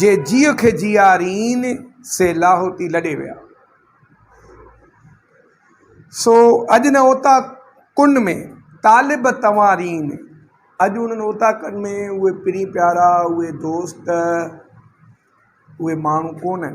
جي جيء کي جيارين، سي لاهوتي لڏي ويا. سو اڄ نه اوتا ڪن ۾، طالب توهان رين. اڄ انهن اوتا ڪن ۾ اهي پرين پيارا، اهي دوست، اهي ماڻهو ڪونهن.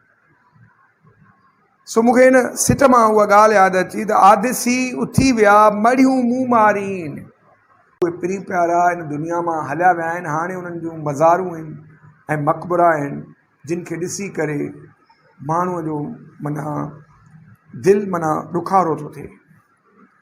سو مون کي ان سٽ مان اها ڳالهه ياد اچي ته آديسي اٿي ويا مڙهيون مون مارين. اهي پرين پيارا ان دنيا مان هليا ويا آهن، هاڻي انهن جون مزارون ۽ مقبرا آهن، جن کي ڏسي ڪري ماڻهوء جو معنيٰ دل معنيٰ ڏکارو ٿو ٿئي.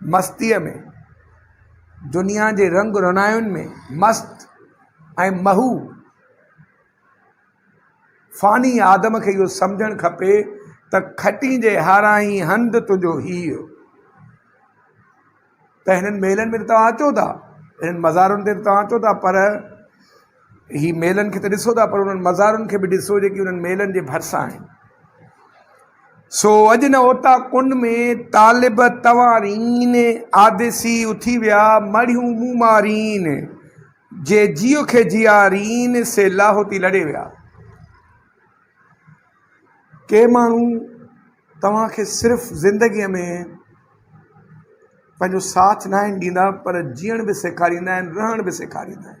مستيء ۾، دنيا جي رنگ رونائن ۾ مست ۽ محو فاني آدم کي اهو سمجهڻ کپي ته کٽين جي هارانهين هنڌ تنهنجو هيء ته هنن محلن ۾ ته توهان اچو ٿا، هنن مزارن تي ته توهان اچو ٿا پر هي ميلن کي ته ڏسو ٿا پر انهن مزارن کي به ڏسو جيڪي انهن ميلن جي ڀرسان آهن. سو اڄ نه اوتا ڪنڊ ۾ طالب توارين، آديسي اٿي ويا مڙهيون مومارين، جي جيو کي جيارين، سي لاهوتي لڏي ويا. ڪي ماڻهو توهان کي صرف زندگيء ۾ پنهنجو ساٿ ناهن ڏيندا پر جيئڻ به سيکاريندا آهن، رهڻ به سيکاريندا آهن.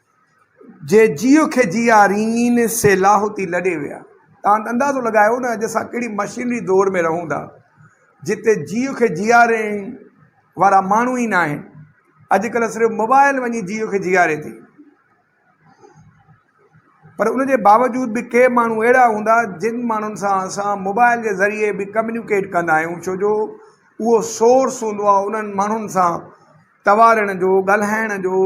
جي جيء کي جيا رينين سي لاهوتي لڏي ويا تان اندازو لڳايو نه اڄ اسان ڪهڙي مشينري دور ۾ رهون ٿا جتي جيء کي جيارين وارا ماڻهو ئي ناهن اڄڪلهه صرف موبائل وڃي جيء کي جياري ٿي پر ان جي باوجود به ڪي ماڻهو اهڙا هوندا جن ماڻهن سان اسان موبائل جي ذريعي به ڪميونيڪيٽ ڪندا آهيون ڇو جو اهو سورس هوندو آهي انهن ماڻهن سان توارڻ جو ڳالهائڻ جو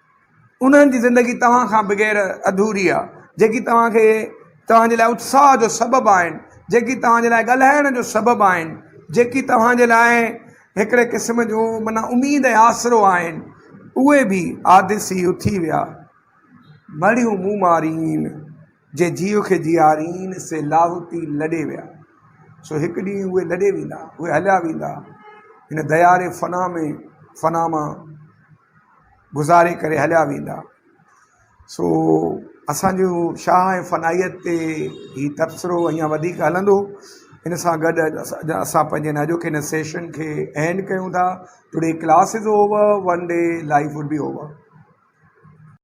انهن جي زندگي توهان کان بغير اڌوري آهي، جيڪي توهان کي توهان جي لاء اتساهه جو سبب آهن، جيڪي توهان جي لاء ڳالهائڻ جو سبب آهن، جيڪي توهان جي لاء هڪڙي قسم جو معنيٰ اميد ۽ آسرو آهن، اهي به آديسي اٿي ويا، مڙهيون مون مارين. جي جيء کي جيارين، سي لاهوتي لڏي ويا. سو هڪ ڏينهن اهي لڏي ويندا، اهي هليا ويندا، هن دياري فنا ۾ فنا مان گذاري ڪري هليا ويندا. سو اسان جو شاهه ۽ فنائيت تي هي تبصرو اڃا وڌيڪ هلندو. ان سان گڏ اسان پنهنجي هن اڄوڪي هن سيشن کي اينڊ ڪيون ٿا. Today class is over one day life would be over.